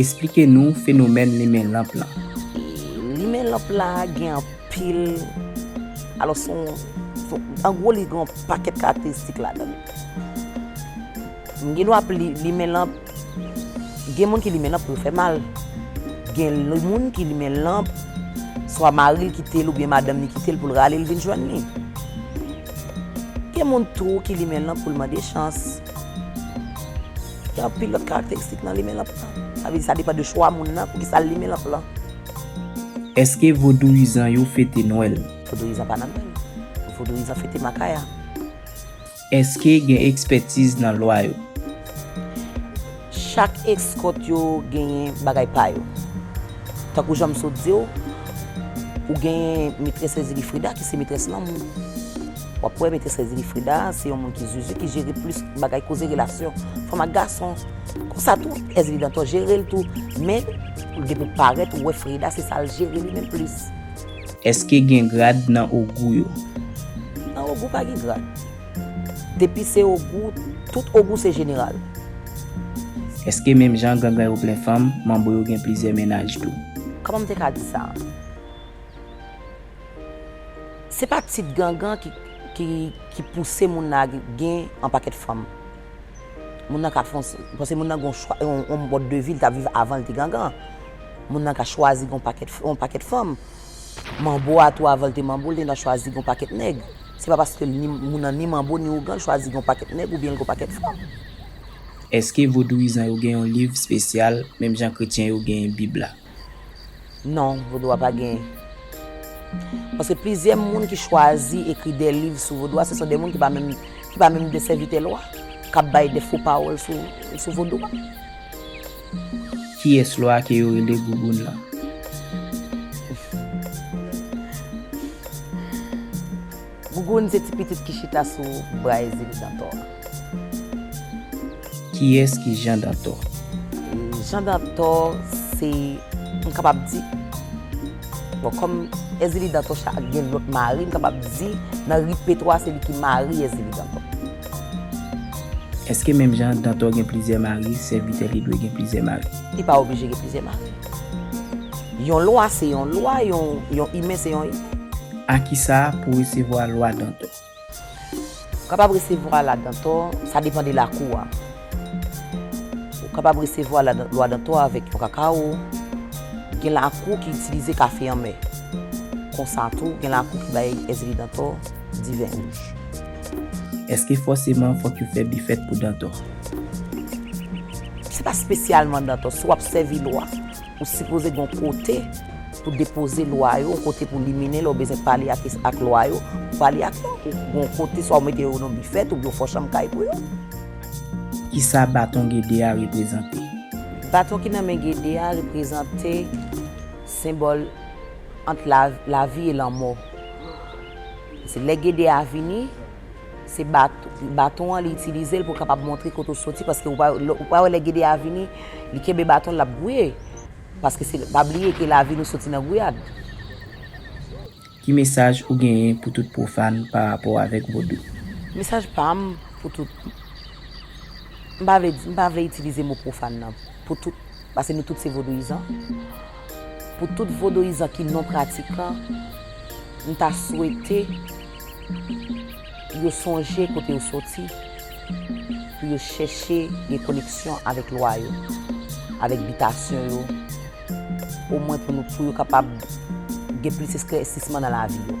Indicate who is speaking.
Speaker 1: Esplike nou fenomèn limen lanp lan. Limen
Speaker 2: lanp la gen anpil, alò son, an gwo li gen yon pakèt karakteristik ladan li. M gen dwa ap limen lanp. Gen moun ki limen lanp pou yo fè mal. Gen moun ki limen lanp, swa mari l kite l oubyen madanm ni kite l pou l rale l vin jwenn li. Gen moun tou ki limen lanp pou l mande chans. Gen anpil lòt karakteristik nan limen lanp lan. Sa vle di sa depan de chwa moun nan pou ki sa l limen lanp lan.
Speaker 1: Èske vodouyizan yo fete Nwèl? Vodouyizan pa nan Nwèl.
Speaker 2: Vodouyizan fete Makaya.
Speaker 1: Èske gen ekspètiz nan lwa yo? Chak
Speaker 2: ekskòt yo genyen bagay pa yo. Tankou jan m sot di w, ou genyen Metrès Èzili Frida ki se metrès lanmou. W ap wè Metrès Èzili Frida a se yon moun ki zuzu, ki jere plis bagay koze relasyon fanm ak gason. Konsa tou, Èzili Dantò jere l tou. Men, depi w parèt, ou wè Frida se sa l jere li menm plis. Eske
Speaker 1: gen grad nan ogou yo? Nan ogou
Speaker 2: pa gen grad. Depi se ogou, tout ogou se jeneral.
Speaker 1: Eske menm jan gangan yo plen fanm, manbo yo gen plizyè mennaj tou? Kòman m te ka di
Speaker 2: sa? Se pa tip gangan ki pouse moun lage gen anpakèt fanm. Moun nan ka fon, paske moun nan gen yon chwa, yon mòd de vi li t ap viv avan li te gangan an. Moun nan ka chwazi gen yon pakèt fanm. Manbo a tou avan li te manbo, li te gen dwa chwazi gen yon pakèt nèg. Se pa paske li ni, moun nan ni manbo ni ougan, li chwazi gen yon pakèt nèg oubyen li gen yon pakèt fanm.
Speaker 1: Èske vodouyizan yo gen yon liv spesyal menm jan kretyen yo genyen bib la? Non,
Speaker 2: vodou a pa gen. Paske plizyè moun ki chwazi ekri de liv sou vodou a, se son de moun ki pa menm ki pa menm de sèvitè lwa, k ap bay de fo pawòl sou sou vodou a.
Speaker 1: Kiyès lwa ke yo rele Gougoun lan?
Speaker 2: Gougoun se ti pitit ki chita sou bray zili Dantò a.
Speaker 1: Kiyès ki Jan Dantò? Jan
Speaker 2: Dantò se, m kapab di, bon kòm Èzili Dantò cha ak gen lòt mari, m kapab di nan ripetwa se li ki mari Èzili Dantò.
Speaker 1: Èske menm jan Dantò gen plizyè mari, sèvitè li dwe gen plizyè mari? Li pa oblije gen plizyè
Speaker 2: mari. Yon lwa se yon lwa, yon imen se yon imen. A ki sa
Speaker 1: pou resevwa lwa dantò?
Speaker 2: Ou kapab resevwa la dantò, sa depan de lakou a. Ou kapab resevwa lwa dantò avèk yon kakawo. Gen lakou ki itilize kafe anmè. Konsa tou, gen lakou ki bay èzili dantò, diven wouj.
Speaker 1: Èske fòseman fòk yo fè bifèt pou dantò?
Speaker 2: Se pa spesyalman Dantor, si wap sèvi lwa, ou sipoze gen yon kote pou depoze lwa yo, yon kote pou limine lè w bezwen pale ak lwa yo, ou pale ak yo, ou gen yon kote swa ou mete yo nan bifèt oubyen w fè yon chanm kay pou yo.
Speaker 1: Kisa baton Gede a reprezante? Baton ki
Speaker 2: nan men Gede a reprezante senbòl ant lavi e lanmò. Se lè Gede a vini. Se baton an li itilize l pou l kapab montre kote ou soti paske ou pa wè lè gede a vini li kenbe baton l l ap gwouye paske se pa bliye ke lavi nou soti nan gwouyad.
Speaker 1: Ki mesaj ou genyen pou tout pwofàn pa rapò avèk vodou? Mesaj pa
Speaker 2: m pou tout m pa vle di m pa vle itilize mo pwofàn nan pou tout paske nou tout se vodouyizan pou tout vodouyizan ki non pratikan m ta swete Yo sonje kote yo soti pou yo chèche gen koneksyon avèk lwa yo, avèk bitasyon yo, omwen pou nou pou yo kapab gen plis esklèsisman nan lavi yo.